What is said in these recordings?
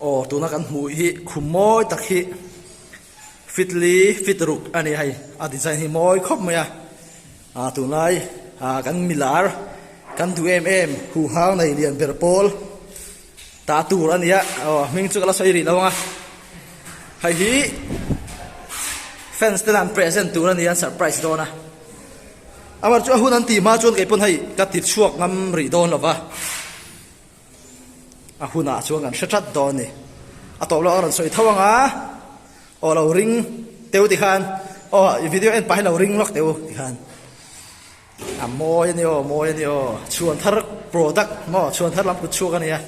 Aw tuna kan hmuh hi khum mawi tak hi fitli fit ruk a ni a hei a design hi mawi khawp mai a ah tunlai ah kan milar kan duh em em huhau nei lian ber pawl tah tur a ni a aw hming chu ka la sawi rih lo ang a hei hi fans te lam present tur a ni a an surprise dawn a amaherawhchu a hun an tih hma chuan kei pawn hei ka tichhuak ngam rih dawn lo va. A hunah chuan kan hre ṭhat dawn a ni. A tawp lawk a rawn sawi tho ang a, aw lo ring teu ti khan, aw i video en pah hi lo ring lawk teu ti khan. A mawi a ni aw, mawi a ni aw, chhuan thar product maw, chhuan thar lam kut chhuak a nia.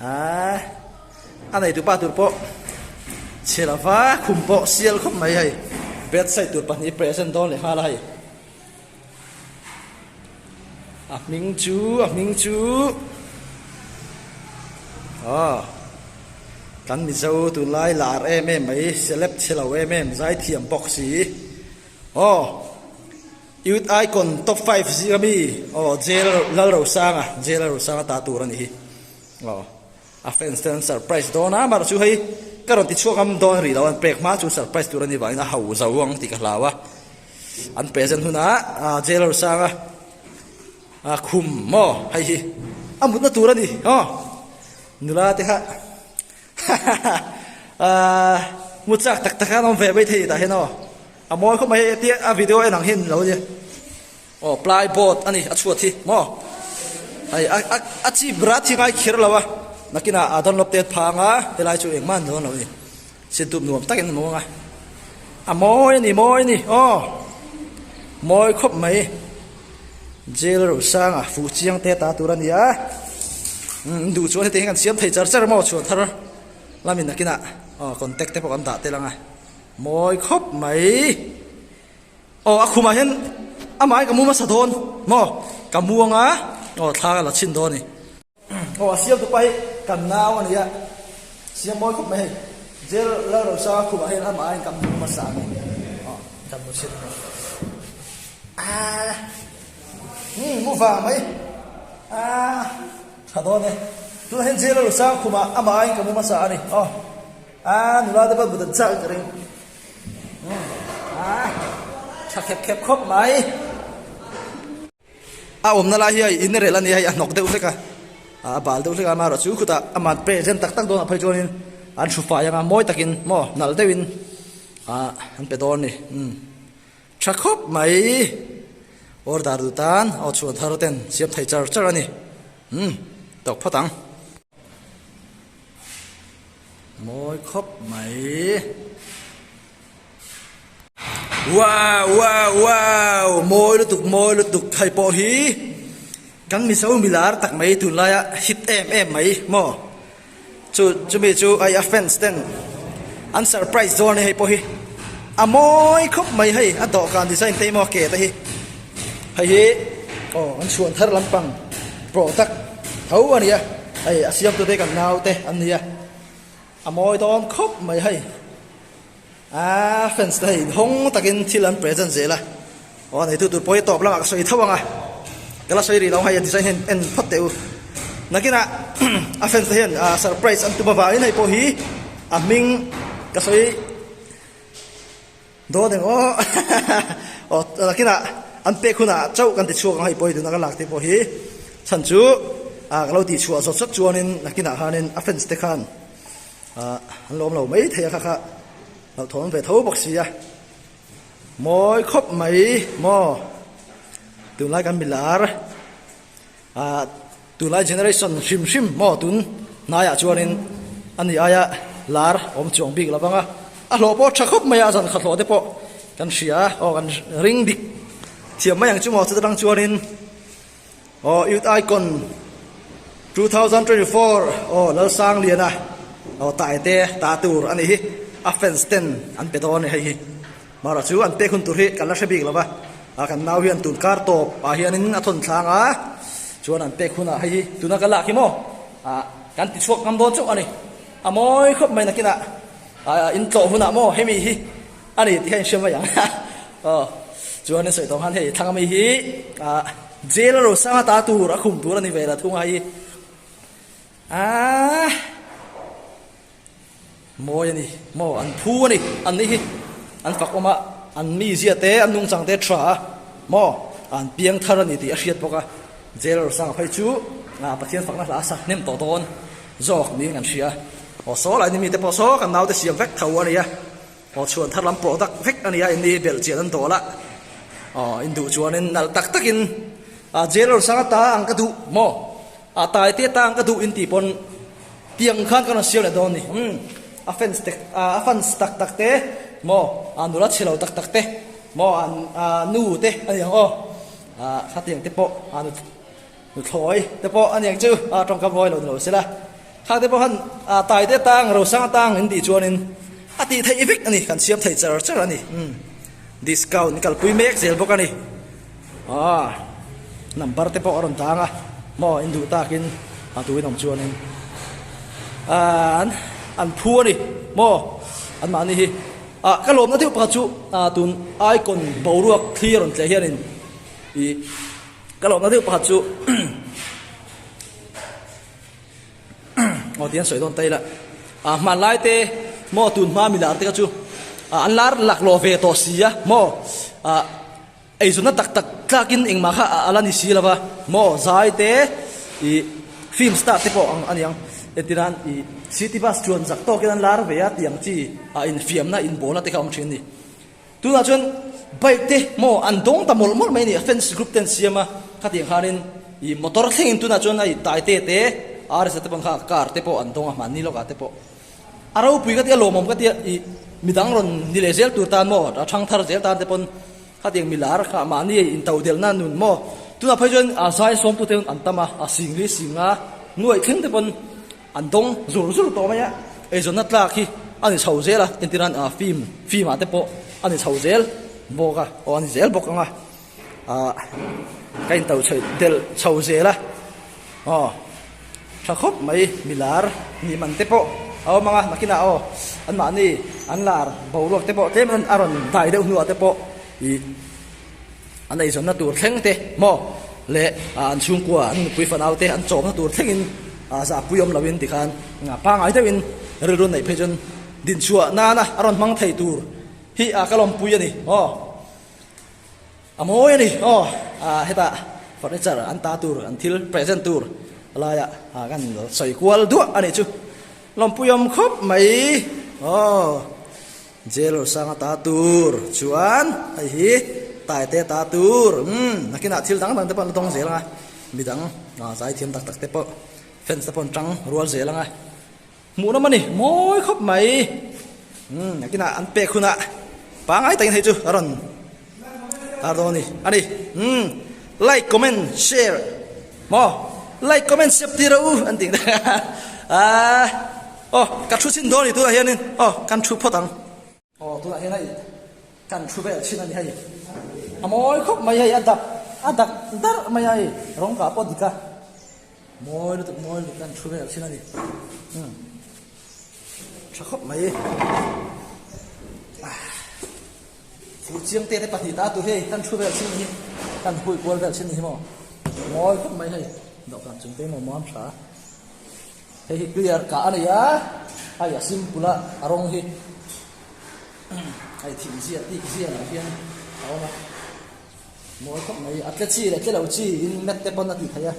Aaa, a nei tur pa tur pawh chhe lo va, khum pawh sial khawp mai hei, bedside tur pahnih present dawn leh nghal a hei. A hming chu a hming chu aw kan mizo tunlai lar em em mai celeb chhilo em em zai thiam bawk si aw youth icon top five zia mi aw jail Lalrosanga jail Lalrosanga ta tur a nih hi aw. A fans te an surprise dawn a, Mark chu hei ka rawn ti chhuak am dawn rih lo an pek hma chu surprise tur ani vangin a hau zo ang tih ka hlau a, an present hunah ah Jailor Sanga ah khum maw hei hi a mutna tur ani haw nula te kha hahaha ah mut chak tak tak a an awm ve mai thei tah hian aw a mawi khawp mai hei tia a video en ang hian lo nia. Aw plai boat ani a chhuat hi maw hei a chi bra thi ngai kher lo a nakin a a download tet phang a helai chu engmah an dawnlo ni sin dup nuam takin a muang a a mawi ani mawi ani aw mawi khawp mai jail a rawn sang a fuh chiang te ta tur ania in duh chuan hetiang hian kan siam thei char char maw chhuah thar la mi nakinah aw contact te pawh kan dah tel ang a mawi khawp mai. Aw, a khumah hian a maiin ka mu hmasa dawn maw? Ka mu anga, aw thla ka la chhin dawn a ni. Aw, a siamtu pa hi kan nau a nia, siam mawi khawp mai hei. Jail lal rawn sang a khumah hian a maiin ka mu hmasa a ni. Aw, kan mu chhin maw? Aaa, umm, mu vang mai. Aaa, tha dawn e. Tunah hian jail lal rawn sang a khumah a maiin ka mu hmasa a ni. Aw, aaa, nula te pawh a mudan chak reng. Tha khep khep khawp mai. A awmna lai hi a in rel a ni a, hei a hnawk deuh hlek a, a bal deuh hlek a, amaherawh chu khutah a man present tak tak dawnah phei chuanin an hru fai ang a, mawi takin maw, nalh deuhin ah an pe dawn a ni, umm tha khawp mai, order duh tan aw chhuah thar ten siam thei char char a ni, umm tawk phawt ang. mawi khawp mai. Wow wow wow mawi lutuk mawi lutuk hei pawh hi kan mizo milar tak mai tun laia hit em em mai maw chu chumi chu ai a fans ten an surprise zawng ni hei pawh hi a mawi khawp mai hei a dawhkan design te hi maw ke te hi hei hi aw an chhuan thar lampang product Tho a nia, hei a siamtu te kan naute an nia, a mawi dawn khawp mai hei, a fans te hei hawng takin thil an present zel a, aw a neitu tur pawh hi tawp lamah ka sawi tho ang a, ka la sawi rih lo ang hei a design hian en phawt teh u, nakinah a fans te hian surprise an tum avangin hei pawh hi a hming ka sawi. Dawn em aw aw takinah an pek hunah chauh kan tichhuak ang a, hei pawh hei tuna kan lakte pawh hi chhan chu a ka lo ti chhuah zawt zat chuanin nakinah khanin a fans te khan an lawm lo mai thei a kha kha hlauhthawn ve tho bawk si a mawi khawp mai maw tunlai kan milar. Ahh tunlai generation hrim hrim maw tun hnaiah chuanin a ni aia lar awm chuang bik lo vanga a hlawh pawh tha khawp maia zankha hlawh te pawh kan hria aw kan ring dik thiam mai ang chu maw chutah tang chuanin aw youth icon two thousand twenty four aw lalsangliana aw taite ta tur a ni hi a fans ten an pe dawn a ni hei hi. Hmara chu an pek hun tur hi kan la hre bik lo va, a kan nau hian tun kar tawp ah hianin a thawn thlang a, chuan an pek hunah hei hi tuna ka lak hi maw ah kan ti chhuak ngam dawn chauh a ni, a mawi khawp mai nakinah ah in tlawh hunah maw hemi hi a ni tih kha in hre mai ang aw chuanin sawi tawng han hei thlang ami hi ah jail a rawn sang ata tur a khum tur a ni ve la thung a hei hi aah. Mawi a ni maw? An phu a ni. An nih hi an fakawm a, an mizia te, an nungchang te ṭha a maw? An piang thar a ni tih a hriat bawk a. Jailer sang phei chu a Pathian fakna hla a sakhnem tawh dawn zawk niin kan hria. Aw saw lahin mite pawh saw kan naute siam vek tho a nia. Aw chhuan thar lam pawh dak vek a nia in i belh chian an dawl a, aw in duh chuanin nalh tak takin a jailer sang a ta ang ka duh maw a tai te ta ang ka duh in tih pawn tiang khan ka rawn siam leh dawn ni umm a fans te a fans tak tak te maw a nula chhilo tak tak te maw a nu te a ni ang aw a khatiang te pawh a nu Thlawi te pawh a nek chu a tawngkam hawi lo ni lo se la, khang te pawh khan a tai te tang, rosang atang in tih chuanin a tih theih vek a ni, kan siam thei char char a ni. Umm discount in kalpui mek zel bawk a ni. Aw number te pawh a rawn tang a, maw in duh takin a tuin awm chuanin an an phu a ni maw anmahni hi ah ka lawmna deuh pakhat chu ah tun aikawn boruak thli a rawn tleh hianin ih, Ka lo nalh deuh pakhat chu Ngawtian sawi dawn ta ila a hman lai te mo tun hma mi lar te ka chu an lar lak lo ve tawh si a mo a ei zuna tak tak tlakin engmah kha ala ni si lova mo zai te i film star te pawh ang aniang etiran i city bus chuan zak tawkin an lar ve a tiang chi a infiamna inbawna te kha awm thin ni Tunah chuan bike te maw an dawng ta mawlh mawlh mai a ni. Fence group te an siam a, khati ang khanin ih motor thlengin tunah chuan a intaite te a resa te bang kha car te pawh an dawng a, mahni lawkah te pawh. A ropui ka tia, lawmawm ka tia ih midang rawn ni leh zel tur tan maw, a thangthar zel tan te pawn khati ang milar kha mahni in to del nan nun maw. Tunah phei chuan a zai sawmtute an tam a, a sing hi a sing a, nuaih thleng te pawn. An dawng zur zur tawh mai a, eizawnna tlak hi a ni chho zel a, entiran ah fim fim ah te pawh a ni chho zel bawk a, aw a ni zel bawk ang a, ah ka in to chhoih delh chho zel a, aw tha khawp mai mi lar nih man te pawh a awm ang a, nakin ah aw an mahni an lar boruak te pawh tlem a rawn dai deuh hnu ah te pawh ih. An eizawnna tur thleng te maw leh an chhungkua an nupui fanau te an chawmna tur thlengin zahpui awm loin tikhan pangai deuhin rilru neih phei chuan dinchhuah nana a rawn hmang thei tur hi ka lawmpui a ni aw a mawi a ni aw heta furniture an ta tur an thil present tur laia kan sawi kual duah a nih chu lawmpui awm khawp mai aw. Jail Awlsang a ta tur chuan hei hi Tai te a ta tur umm nakin ah thil dang dang te pawh an la dawng zel ang a, midang ah chai thiam tak tak te pawh fence te pawh an tang rual zel ang a, hmuh rawm a ni mawi khawp mai umm nakin ah an pek hunah pangai takin hei chu a rawn. Tar dawn ani. Ani. Hmm. Like, comment, share. Mo. Like, comment, share tir a u. An tih. Ah. Oh, ka thu chin dawn ani tunah hian in. Oh, kan thu phawt ang. Oh, tunah hian hei kan thu vel chin ani hei. A mawi khawp mai hei, a dak, a dak darh mai a hei. Rawng kah pawh a dik a. Mawi lutuk mawi lutuk hian thu vel thin a ni. Umm. Tha khawp mai. Fu chiang te te pahnih ta tu hei kan thu vel thin ni hi. Kan hui kual vel thin ni hi maw. Mawi khawp mai hei. Dawh kan chung te maw maam tha. Hei hi clear ka a nei a. Hei a simple a a rawng hi. Hei thim zia tik zia lah hian a awm a. Mawi khawp mai. A tle chi leh tle lo chi in mat te pawn a tih theih a.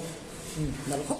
Nalh khawp.